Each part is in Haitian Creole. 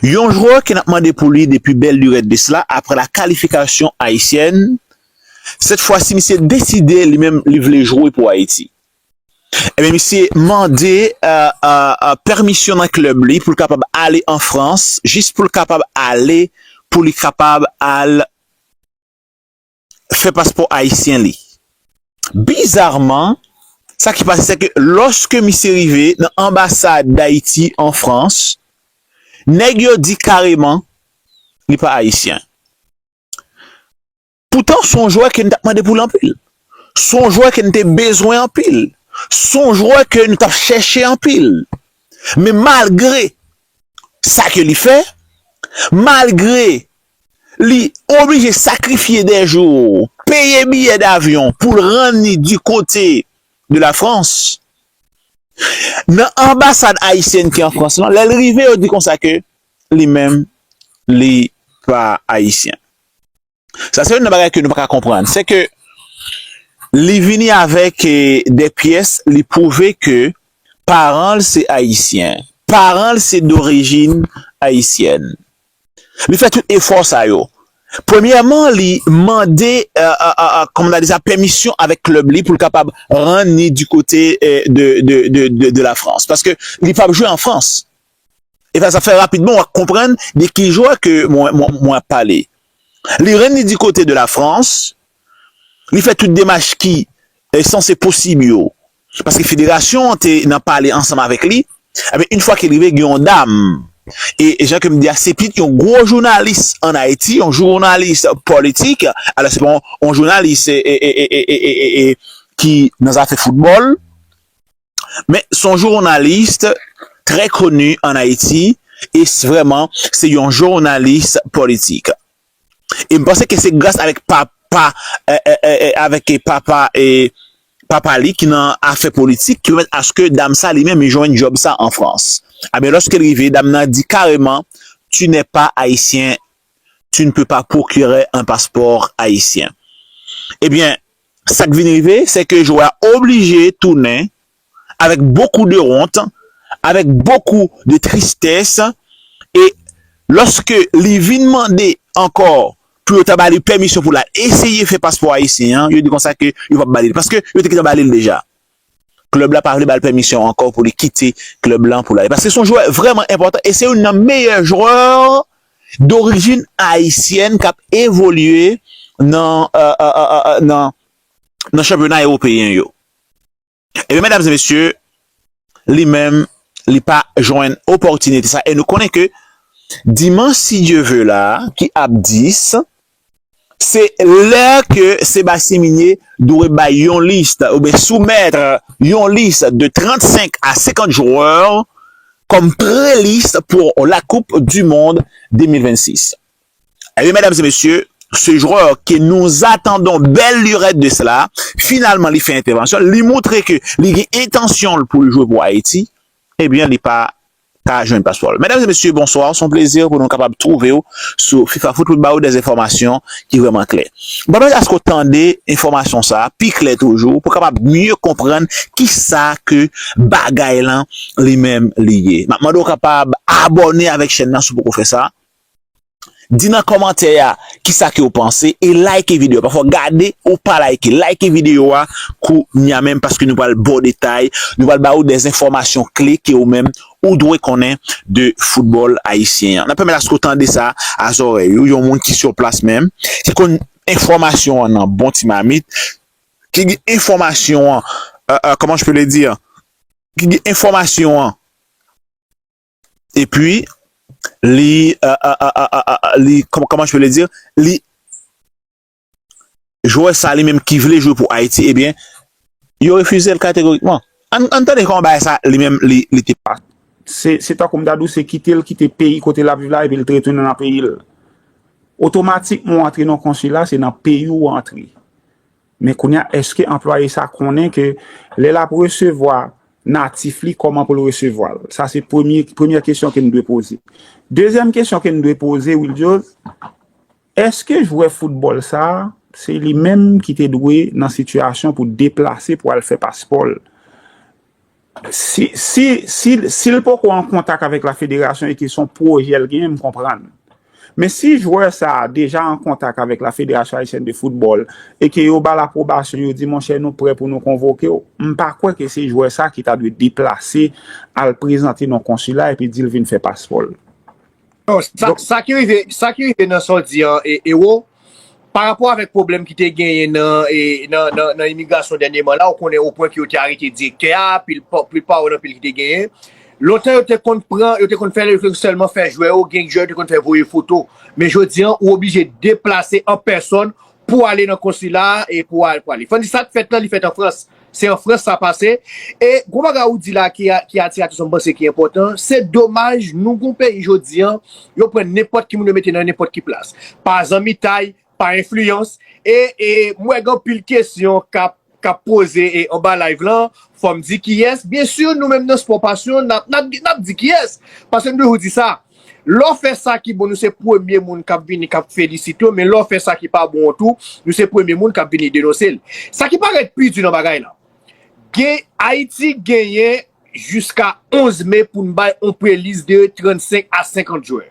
Yon jwè ke nap mande pou li depi bèl lurèt de sla aprè la kalifikasyon ayisyèn, sèt fwa si misye deside li menm li vle jwe pou Ayiti. Ebyen misye mande pèmisyon nan klèb li poul kapab ale an Frans jis poul kapab ale pou li kapab al. fè paspò ayisyen li. Bizarman, sa ki pase sèke lòske misye rive nan anbasad Dayiti an Frans, nèg yo di kareman li pa ayisyen. Poutan son jwè ke nou tap mande poul anpil. Son jwè ke nou te bezwen anpil. Son jwè ke nou tap chèche anpil. Men malgre sa ke li fè, malgre li oblije sakrifye dè jou, peye biyè davyon pou l rann li di kote de la Frans, nan anbasad ayisyèn ki an Frans lan, lè l rive yo di konsa ke li menm li pa ayisyen. Sa se youn nan bagay ke nou pa ka konprann, se ke li vini avèk dè pyès, li pwouve ke paran l se ayisyen, paran l se dorijin ayisyèn. Li fè tout efò sa yo. Premyèman li mande kòman ta di sa pèmisyon avèk klèb li pou l kapab rann ni di kote de la Frans. Paske li pap jwe an Frans. E sa sa fè rapidman wap konprann de ki jwè ke mwen ap pale. Li rann ni di kote de la Frans. Li fè tout demach ki sanse posib yo. Paske federasyon an te nan pale ansanm avèk li, enben yn fwa ke l rive gen yon dam e jan ke m di a se pit yon gwo jounalis an Ayiti, yon jounalis politik, alò se pa yon jounalis ki nan zafè foutbòl, men s on jounalis trè koni an Ayiti e s vrèman se yon jounalis politik. e m panse ke se gras avèk papa avèk papa papa li ki nan afè politik ki pèmèt aske dam sa li menm li jwenn djòb sa an Frans a byen lòske l rive dam nan di kareman tu nè pa ayisyen tu n pe pa pwokirè an paspò ayisyen e byen sa k vin rive se ke jowè a oblije tounen avèk bokou de wont, avèk bokou de tristès, e lòske li vin mande ankò pou yo ta ba li pèmisyon pou l al eseye fè paspò ayisyen an, yo di konsa ke yo p ap ba li l, paske yo te gentan ba li l deja. Klèb la pa vle ba l pèmisyon ankò pou li kite klèb lan pou l ale, paske se yon jwè vrèman enpòtan e se youn nan meyè jwè dorijin ayisyèn k ap evolye nan chanpyona ewopeyen yo. Ebyen medam e mesye, li menm li pa jwenn opòtinite sa e nou konnen ke dimanch si Dye ve la ki ap 10, se lè ke Sebastien Migné dwe bay yon lis oubyen soumèt yon lis de 35 a 50 jwè kòm pre-lis pou la koup du mond 2026. Eh byen medam e mesye, se jwèr ke nou zatandon bèl lirèt de sela, finalman li fè entèvansyon l, li moutre ke li gen entansyon l pou l jwe pou Ayiti, eh byen li pa ka jwenn paspò l. Medam e mesye, bonswa, se yon plezi pou nou kapab twouve w sou Fifafoot pou n ba w dè enfòmasyon ki vrèman klè. M pèmèt aske w tande enfòmasyon sa a pi klè toujou pou kapab mye konprann kisa ke bagay lan li menm li ye. M ap mande w kapab abòne avèk chèn nan si w poko fè sa. Di nan kòmantè a kisa kew panse e like video pafè w gade ou pa like like video a kou nya menm paske nou pral baw detay nou pral ba ou dè enfòmasyon kle ke ou menm ou dwe konnen de foutbòl ayisyen an nan pèmèt aske w tande sa a zòrèy ou yon moun ki sur plas menm ki konn enfòmasyon an nan bon ti mamit ki gen enfòmasyon an kòman je peux le dire ki gen enfòmasyon an. e pi li li kòman je peux le dire li jwè sa li menm ki vle jwe pou Ayiti e byen yo refize l kategorikman ann tande kòman bagay sa li menm li te pase. Se tankou m ta di w se kite l kite peyi kote l ap viv la e pi l te retounen nan peyi l otomatikman w antre nan yon konsila se nan peyi w ou antre Men kounya eske anplwaye sa konnen ke lè lap resevwa natif li kòman pou l resevwa l? Sa se premye premyè kesyon ke n dwe poze. Dezyèm kesyon ke n dwe poze Wildyòz, eske jwè foutbòl sa se li menm ki te dwe nan sitiyasyon pou deplase pou al fè paspò l? Si l poko an kontak avèk la federasyon e ke se yon pwojè l genyen, m konprann. Men si jwè sa a deja an kontak avèk la federasyon ayisyèn de foutbòl e ke yo ba l apwobasyon, yo di monchè nou prè pou nou konvoke w, m pa kwè ke se jwè sa a ki ta dwe deplase al prezante nan konsila epi di l vin fè paspò l. Sa ki rive nan sa w di an Ero, pa rapò avèk pwoblèm ki te genyen nan imigrasyon dènyeman la, ou konnen o pwen ke yo te arete direktè a, pil pa ou nan pil ki te genyen. Lontan yo te konn pran, yo te konn fè lè, yo te konn sèlman fè jwè yo, gen jwè yo te konn fè voye foto. Men jodi an, ou oblije deplase an pèsòn, Pou ale nan konsila a e pou al pou ale. Fany, sa k fèt la, li fèt an Frans. Se an Frans sa pase. E gwo bagay ou di la ki atire atansyon m panse ki enpòtan, se domaj nou gon peyi jodi an, yo pran nenpòt ki moun yo mete nan nenpòt ki plas. Pa zanmitay, pa enfliyans e m wè gen anpil kesyon k ap kap poze anba live lan fòm di kiyès byen sur nou menm nan spò pasyon nap di kiyès paske nou toujou di sa lò fè sa ki bon nou se premye moun kap vini kap felisite w men lò fè sa ki pa bon an tou nou se premye moun kap vini denonse l sa ki parèt pi di nan bagay la gen ayiti genyen jiska 11 me pou n bay on prelis de 35 a 50 jwè.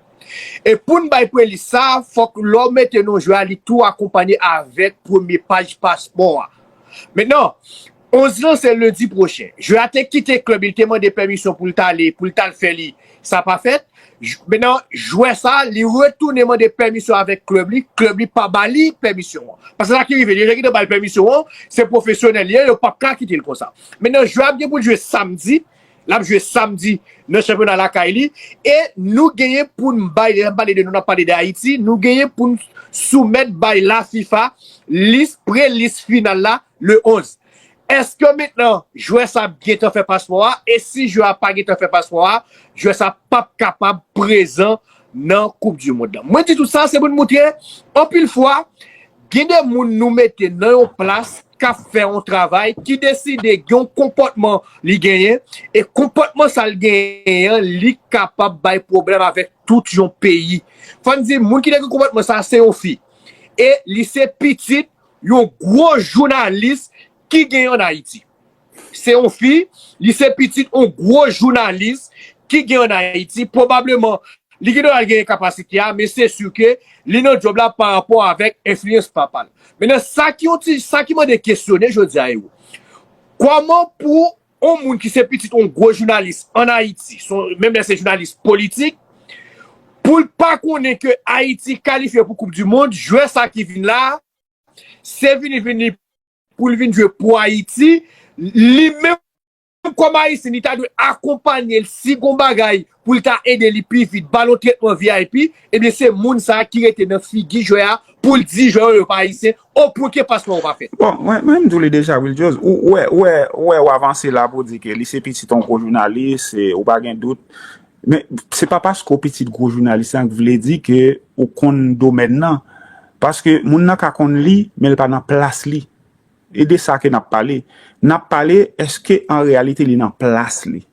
E pou n bay prelis sa, fòk lè w mete non jwè a li tou akonpanye avèk premye paj paspò a. Mentnan, 11 lan se lendi pwochen. Jwè a te kite klèb li te mande pèmisyon pou l t ale pou l t al fè li. Sa pa fèt, menan jwè sa li retounen mande pèmisyon avèk klèb li, klèb li pa ba li pèmisyon an. Paske sa ki rive, deja ki te ba l pèmisyon an, se pwofesyonèl li ye, yo pap ka kite l konsa. Menan jwè ap gen pou l jwe samdi, l ap jwe samdi nan chanpyona lakay li e nou genyen pou n bay, lè n ap pale de nou, n ap pale de Ayiti, nou genyen pou n soumèt bay la fifa lis, pre-lis final la Le 11. Eske mentnan jwè sa ap gentan fè paspò a e si jwè a pa gentan fè paspò a, jwè sa pap kapab prezan nan koup du mond lan. Mwen di tout sa se pou n moutre anpil fwa gen de moun nou mete nan yon plas k ap fè yon travay ki deside gen yon konpòtman li genyen e konpòtman sa l genyen an li kapab bay pwoblèm avèk tout yon peyi. Fò n di moun ki te gen konpòtman sa se yon fi e li se pitit Yon gwo jounalis ki gen an Ayiti. Se yon fi, li se pitit yon gwo jounalis ki gen an Ayiti. Pwobableman, li gen dwa al genyen kapasite a, men se si ke li nan djòb la pa rapò avèk enfliyans papa l. Mennen, sa ki yon ti, sa ki mande kesyone jodi a, Ero. Kòman pou On moun ki se pitit on gwo jounalis an Ayiti, menm lè se jounalis politik, pou l pa konnen ke Ayiti kalifye pou koup di mond, jwè sa ki vin la, se vini vini pou l vin jwe pou Ayiti, li menm kòm Ayisyen li ta dwe akonpanye l si gon bagay pou l ka ede li pi vit, ba l yon tretman vip, ebyen se moun sa ki rete nan figi jwè a pou l di jwè yo yo pa ayisyen, o pwen ke pasman ou pa fèt. Bon, mwen menm di w li deja wi Ljoz, ou wè, ou wè, ou wè w avanse la pou w di ke li se pitit yon gwo jounalis, e ou pa gen dout, men se pa paske w pitit gwo jounalis lan k vle di ke ou konn domèn lan, paske moun nan ka konn li, men l pa nan plas li, e de sa ke n ap pale, n ap pale eske an reyalite li nan plas li.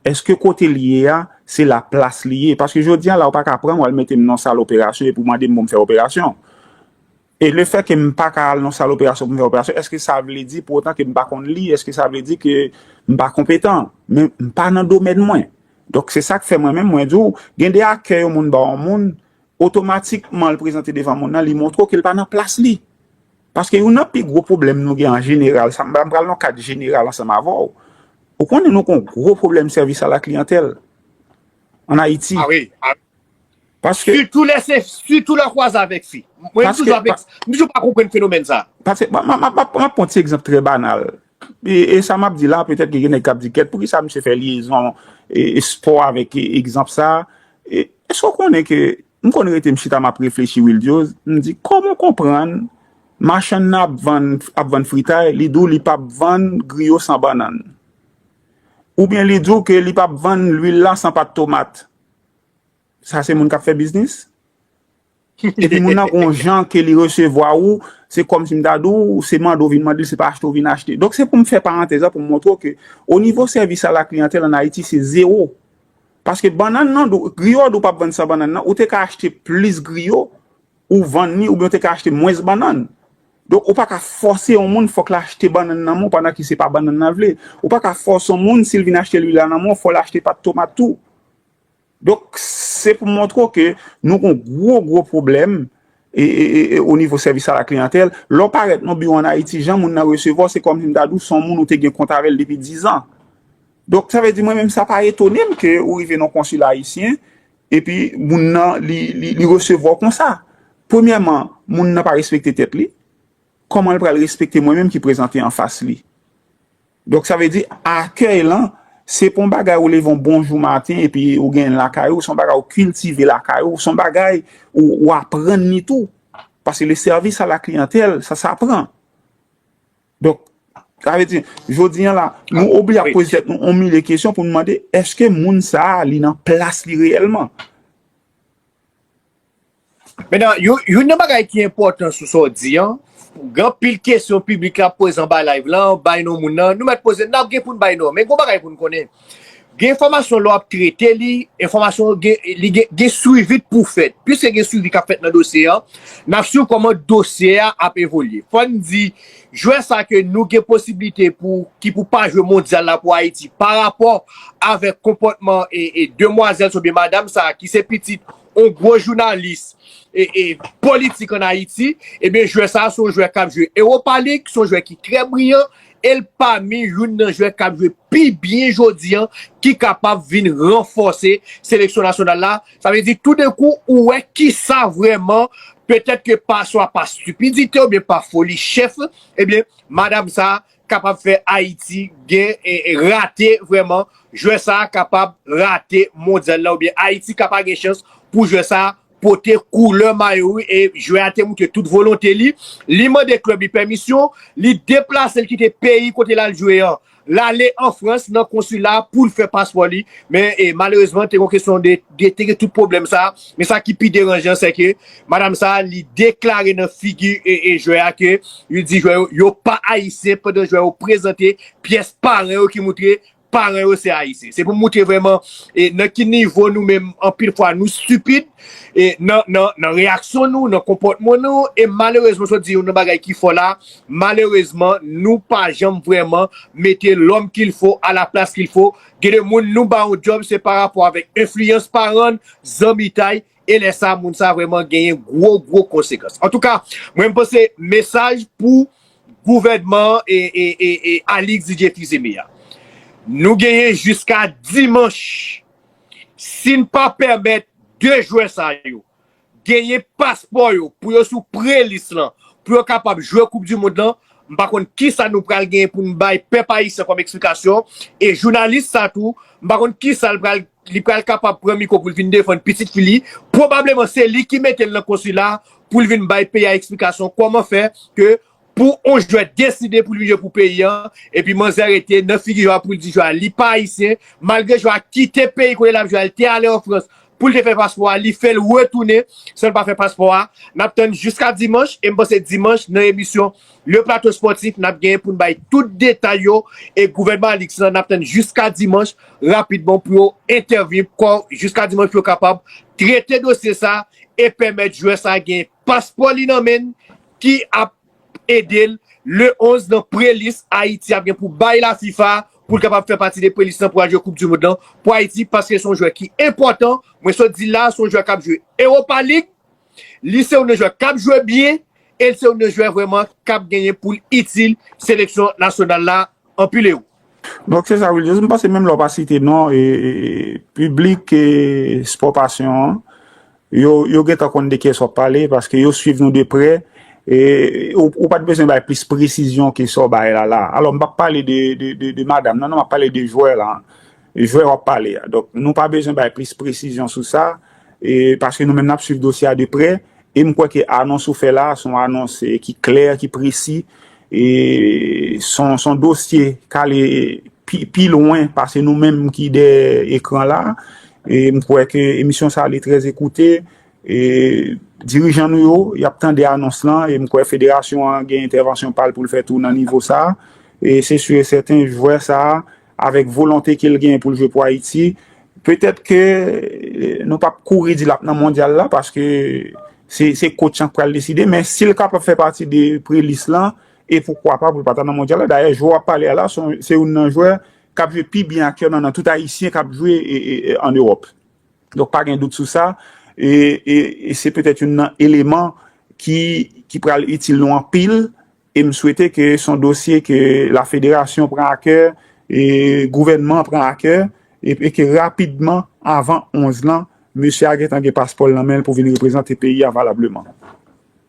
Eske kote l ye a, se la plas li ye? Paske jodi a la ou pa ka pran m wal mete m nan sal operasyon epi w mande m pou m fè operasyon. E le fè ke m pa ka al nan sal operasyon pou m fè operasyon, eske sa vle di pou otan ke m pa konn li? Eske sa vle di ke m pa konpetan? Men m pa nan domèn mwen. Donk se sa k fè mwen menm mwen di w, gen de akè yon moun ba yon moun, otomatikman l prezante devan moun nan, li montre w ke l pa nan plas li. Paske youn nan pi gwo pwoblèm nou gen an jeneral, sa m pa, m pral nan kad jeneral ansanm avè w, ou konnen nou gen yon gwo pwoblèm sèvis a la kliyantèl an Ayiti. A wi, a wi. Paske. Sitou lè se, sitou lè w kwaze avèk fi. Mwen m toujou ap eks, m toujou pa konprann fenomèn sa. Paske, m ap, m ap pran ti egzanp trè banal. E sa m ap di la, petèt ke gen nèg k ap di kèt, poukisa misye fè lyezon espò avèk egzanp sa? Èske w konnen ke M konn rete m chita map reflechi Wildiose, m di kòman w konprann machann nan ap vann ap vann fritay li di w li pap vann griyo san bannann oubyen li di w ke li pap vann lwil la san pat tomat sa se moun kap fè biznis? Epi moun nan gon jan ke li resevwa ou se kòmsi m ta di w se mande w vin mande l se pa achte w vin achte. Donk se pou m fè parantèz la pou m montre w ke onivo sèvis a la kliyantèl an Ayiti se zewo Paske bannann nan dou, griyo a dou pap vann san bannann nan, ou te ka achte plis griyo ou vann li oubyen ou te ka achte mwens bannann. Donk ou pa ka fòse yon moun fòk l achte bannann nan men w pandan ke se pa bannann nan l vle. Ou pa ka fòse yon moun si l vin achte lwil la nan men w fò l achte pat tomat tou. Donk se pou m montre w ke nou gon gwo gwo pwoblèm e o nivo sèvis a la kliyantèl. Lè w parèt nan yon biwo an Ayiti jan moun nan resevwa w se kòmsi m ta di w se yon moun ou te gen kont avè l depi dizan. Donk sa vle di mwen menm sa pa etone m ke ou rive nan konsil ayisyen epi moun nan li resevwa w konsa. Premyèman, moun nan pa respekte tèt li, kòman l pral respekte mwen menm ki prezante anfas li? Donk sa vle di akèy lan se pa yon bagay ou leve yon bon jou maten epi ou genyen l lakay ou, se yon bagay ou kiltive lakay ou, se yon bagay ou aprann li tou. Paske le service à la clientèle sa sapran. Donk, sa vle di, jodi an la, nou oblige ap poze tèt nou yon milye kesyon pou nou mande, eske moun sa a li nan plas li reyèlman? Menan, youn nan bagay ki enpòtan sou sa w di an, gen anpil kesyon piblik la ap poze anba live lan, bay non moun nan, nou mèt poze, n ap gen pou n bay non. Men gen yon bagay pou n konnen, Gen enfòmasyon lè w ap trete li, enfòmasyon li gen swivi k pou fèt. Piske gen swivi k ap fèt nan dosye an, n ap swiv kòman dosye a ap evolye. Fò n di, jwè sa ke nou gen posiblite pou ki pou pa jwe mondyal la pou Ayiti parapò avèk konpòtman demwazèl oubyen madam sa ki se pitit yon gwo jounalis politik an Ayiti, ebyen jwè sa se yon jwè kap jwe Europa League, se yon jwè ki trè briyan, el pami youn nan jwè kap jwe pi byen jodi an, ki kapab vin ranfòse seleksyon nasyonal la, sa vle di tou denkou ou wè kisa vrèman, petèt ke pa swa pa stipidite oubyen pa foli chèf, ebyen madam sa kapab fè Ayiti gen rate vrèman jwè sa kapab rate mondyal la oubyen Ayiti ka pa gen chans pou jwè sa pote koulè mayo li e jwè a te moutre tout volonte li li mande klèb li pèmisyon li deplase li kite peyi kote l al jwe an l ale an Frans nan konsila a pou l fè paspò li men malerezman te gon kesyon de te gen tout pwoblèm sa men sa ki pi deranjan sèke Madam sa a li deklare nan figi jwè a ke li di jwè yo yo pa ayisyen pandan jwè yo prezante pyès paran yo ki moutre paran yo se ayisyen. Se pou moutre vrèman e nan ki nivo nou menm anpil fwa nou stipid e nan nan nan reyaksyon nou, nan konpòtman nou e malerezman sot di youn nan bagay ki fò la malerezman nou pa janm vrèman mete lòm kil fo a la plas kil fo. Gen de moun nou ba yon djòb se pa rapò avèk enfliyans paran, zanmitay e lè sa moun sa vreman genyen gwo gwo konsekans. Antouka mwen panse mesaj pou gouvènman e Alix Didier Fils-Aimé a. Nou genyen jiska dimanch si n pa pèmèt 2 jwè sa yo genyen paspò yo pou yo sou pre lis lan pou yo kapab jwe koup di mond lan m pa konn kisa nou pral genyen pou n bay pèp ayisyen kòm eksplikasyon e jounalis sa tou m pa konn kisa l pral li pral kapab pran mikwo pou l vin defann pitit fi li, pwobableman se li ki mete l nan konsila a pou l vin bay peyi a eksplikasyon kòman fè ke pou on jwè deside pou li jwe pou peyi an epi manzè rete nan figi jwè a pou l di jwè a li pa ayisyen malgre jwè a kite peyi kote l ap jwe a li te ale an frans pou l te fè paspò a li fè l retounen san l pa fè paspò a n ap tann jiska dimanch e m panse dimanch nan emisyon Le Plateau Sportif nap genyen poun bay tout detay yo e gouvènman Alix lan nap tann jiska dimanch rapidman pou yo entèvni kò jiska dimanch pou yo kapab trete dosye sa e pèmèt jwè sa gen paspò li nan menn ki ap edel le 11 nan prelis Ayiti ap gen pou bay la fifa poul kapab fè pati de prelis lan pou al jwe koup du mond lan pou Ayiti paske son jwè ki enpòtan mwen sot dil la son jwè kap jwe Europa League Li se youn nan jwè k ap jwe byen e l se youn nan jwè vrèman k ap genyen pou l itil seleksyon nasyonal la anpil ero. Donk se sa wi Jezi, m panse menm lè w pa site non piblik Sport Passion an, yo gentan konn de kiyès w ap pale paske yo swiv nou de prè e ou pa t bezwen bay plis presizyon ke sa w bay la la. Alò m p ap pale de madam nan non, m ap pale de jwè la. Jwè w ap pale a. Donk, nou pa bezwen bay plis presizyon sou sa, paske nou menm n ap swiv dosye a de prè, e m kwè ke anons ou fè la a, se yon anons ki klè, ki presi, e se yon dosye k ale pi lwen pase nou menm ki dèyè ekran la a. E m kwè ke emisyon sa a li trè ekoute, e dirijan nou yo, y ap tande anons lan, e m kwè federasyon an gen entèvansyon pa l pou l fè tou nan nivo sa a. E se si e sèten, jwè sa a. Avèk volonte ke l genyen pou l jwe pou Ayiti, petèt ke nou pap kouri di l ap nan mondyal la paske se kotch lan k pral deside, men si l kapab fè pati de pre-lis lan, e poukwa pa pou l pa ta nan mondyal la. Dayè, jwè w ap pale a la, se youn nan jwè k ap jwe pi byen aktyèlman nan tout Ayisyen k ap jwe an Ewòp. Donk pa gen dout sou sa, e se petèt youn nan eleman ki pral itil nou anpil E m swete ke s on dosye ke la federasyon pran a kè, e gouvènman an pran a kè, e ke rapidman, avan 11 lan, mesye a gentan gen paspò l nan men l pou vin reprezante peyi a valableman.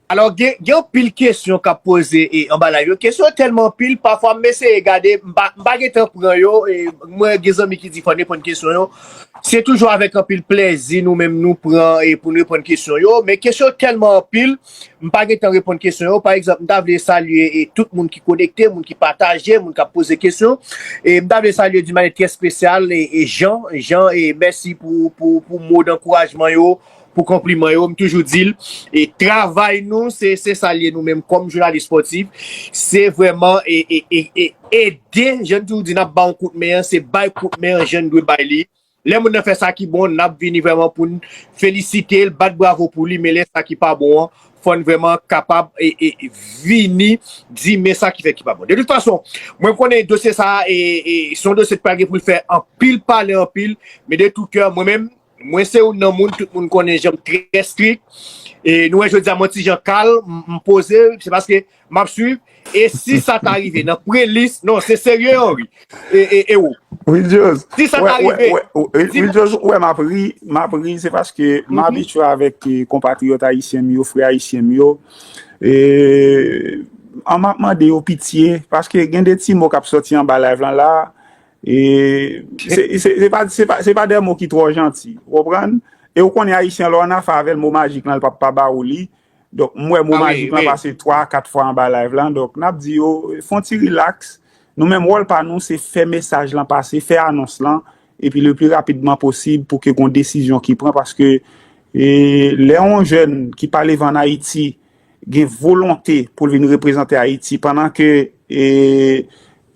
Alò, gen anpil kesyon k ap poze anba layv yo. Kesyon yo tèlman anpil, pafwa m eseye gade, m pa gen tan pran yo. Mwen gen zanmi ki di fò n reponn kesyon yo. Se toujou avèk anpil plèzi nou menm nou pran pou n reponn kesyon yo. Men kesyon yo tèlman anpil. M pa gen tan reponn kesyon yo. Pa egzanp, m ta vle salye tout moun ki konekte, moun ki pataje, moun k ap poze kesyon. M ta vle salye di manyè trè spesyal Jean. Jean, mèsi pou mo dankourajman yo, pou konpliman yo. M toujou di l, travay nou, se sa l ye nou menm kòm jounalis spòtif, se vrèman ede, jan n toujou di n ap ba yon kout men an, se bay kout men an jan n dwe bay li. Lè moun nan fè sa ki bon, n ap vini vrèman pou n felisite l, bat bravo pou li, men lè sa ki pa bon an, fò n vrèman kapab vini di men sa ki fè ki pa bon. De tout fason, mwen konnen dosye sa a se yon dosye ki pral gen pou l fè anpil pale anpil, men de tou kè mwen menm, mwen se youn nan moun, tout moun konnen jan m trè strik, e nou wè jodi a mwen ti jan kalm, m poze, se paske Map swiv e si sa ta rive nan pre list non se serye Henry e ou. Wildios ou wè map ri, map ri se paske m abitye avèk konpatriyòt ayisyen m yo, frè ayisyen m yo e an map mande yo pitye paske gen de ti mo kap soti anba live lan la e se pa de mo ki twò janti ou konprann e ou konnen ayisyen lè w anafè avè l mo majik lan l pap pa ba ou li Donk m wè mo majik lan pase 3 a 4 fwa anba live lan, donk n ap di yo fon ti rilaks, nou menm wòl pa nou se fè mesaj lan pase, fè anons lan, epi le pli rapidman posib pou ke gon desizyon ki pran, paske lè yon jèn ki pale van Ayiti gen volonte pou l vin reprezante Ayiti, pandan ke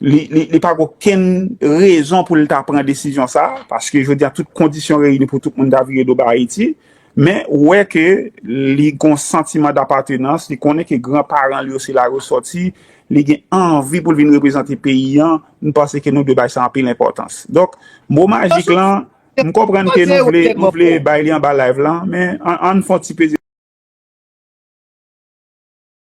Li pa gen okenn rezon pou l ta pran desizyon sa a, paske jodi a tout kondisyon reyini pou tout moun ta vire do bay Ayiti, men ou wè ke li gen yon santiman dapatenans, li konnen ke gran paran li yo se la yo sòti, li gen anvi pou l vin reprezante peyi an, m panse ke nou dwe bay sa anpil enpòtans. Donk, mo majik lan, m konprann ke nou vle, nou vle bay li anba live lan, men an n fon ti peze.